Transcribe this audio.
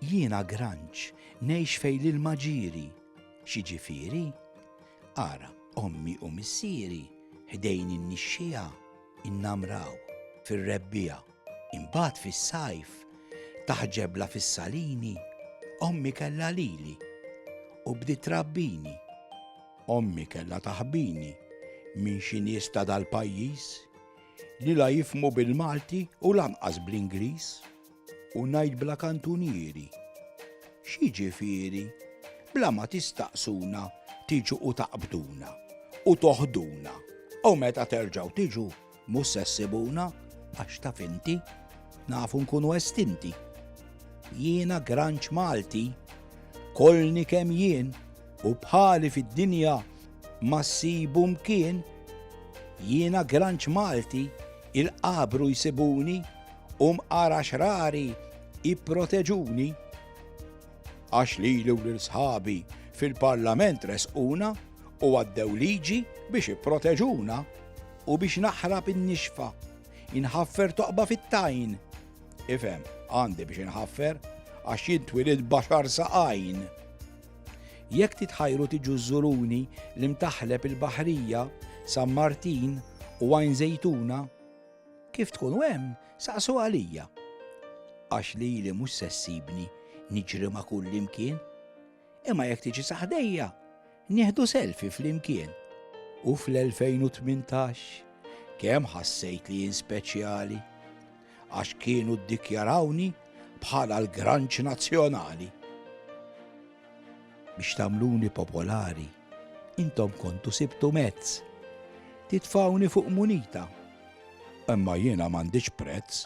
Jiena granċ, ngħix fejn l-ilma ġieri. Xi ġifieri? Ara, ommi u missieri ħdejn in-nixxiegħa innamraw fir-rebbiegħa. Imbagħad fis-sajf taħt ġebla fis-salini ommi kellha lili u bdiet trabbini. Ommi kellha taħbini minn xi nies ta' dal-pajjiż li la jifhmu bil-Malti u lanqas bl-Ingliż. U ngħid bla kantunieri. X'jiġifieri? Bla ma tistaqsuna tiġu u taqbduna u toħduna u meta terġgħu tiġu Mhux se ssibuna, għax taf inti, nafu nkunu estinti. Jiena granċ Malti, kolni kemm jien, u bħali fid-dinja ma ssibu mkien. Jiena granċ Malti, il-qabru jsibuni, u mqara xrari ipproteġuni. Għax lili u lil sħabi fil-Parlament resquna, u għaddew liġi biex ipproteġuna u biex naħrab in-nixfa, inħaffer toqba fit-tajn. Ifhem, għandi biex inħaffer, għax jien twilid baxar saqajn. Jekk titħajru tiġu żuruni li mtaħleb il-baħrija, San Martin u għajn zejtuna, kif tkun hemm saqsu għalija. Għax li li mhux sessibni niġri ma' kull imkien. Imma jekk tiġi sa ħdejja, nieħdu selfie flimkien. U fl-2018 kemm ħassejt li jien speċjali għax kienu ddikjarawni bħala l-granċ nazzjonali. Biex tagħmluni popolari Intom kontu sibtu mezz. Titfgħuni fuq munita. Imma jiena m'għandix prezz.